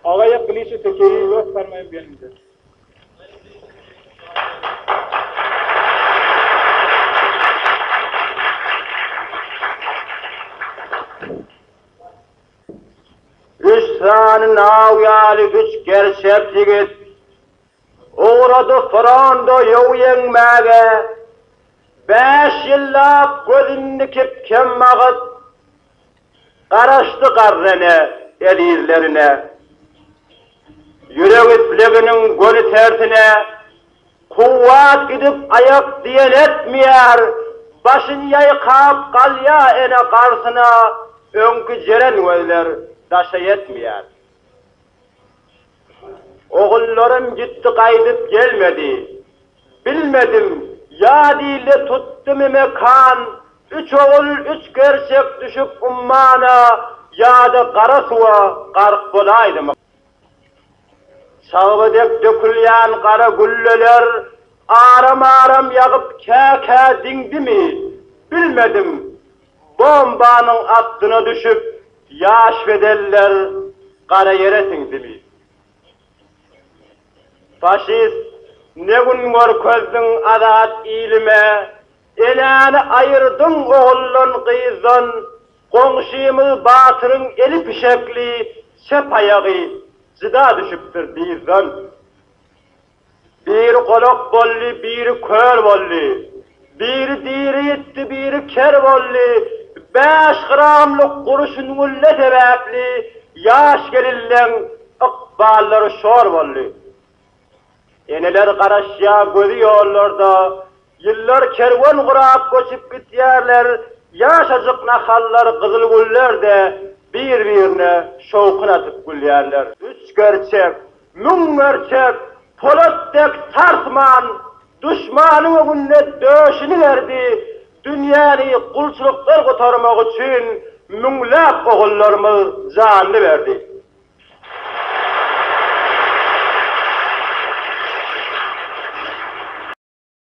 Agaýak bilişi tekeýi ýok sarmaýyp ýanymda. Üç sany naw ýaly üç gerçek ýigit ugrady fronda ýow ýeňmäge. Bäş ýyllap gözün dikip kem bagyp, Garaşdy garrene, ezizlerine. Ýürek isleginiň göni tersine, Kuwwat gidip aýak diýen etmeýär, Başyn ýaýkap galýa ene garsyna, Öňki jeren gözler daşa ýetmeýär. Ogullarym gitdi gaýdyp gelmedi. Bilmedim, ýa dilde tutdy memekan, Üç ogul, üç gerçek düşüp ummana, Ýa-da gara suwa gark bolaýdymyka. Çagba dek dökülýän gara gülleler Aram-aram ýagyp kä-kä diňdimi, Bilmedim, bombanyň astyna düşüp, Ýaş bedenler gara ýere siňdimi. Faşist ne gün görkezdiň azat ilime, Enäni aýyrdyň oguldan, gyzdan, Goňşymyz batyryň eli pişekli, Çep aýagy jyda düşüpdir dyzdan. Biri golak boldy, biri kör boldy, Biri diri ýitdi, biri ker boldy, Bäş gramlyk gury süňňülle sebäpli Ýaş gelinleň ykballary şor boldy. Eneler garaşýar gözi ýollarda, Ýyllar kerwen gurap göçüp gidýärler, Ýaşajyk nahallar gyzyl güllerde Bir-birine şowhun atyp gülýärler. Üç gerçek, müň gerçek, polat dek sarsman, Duşmanyň öňünde döşüni berdi, Dünýäni gulçulykdan gutarmak üçin Müňläp ogullarymyz janyny berdi.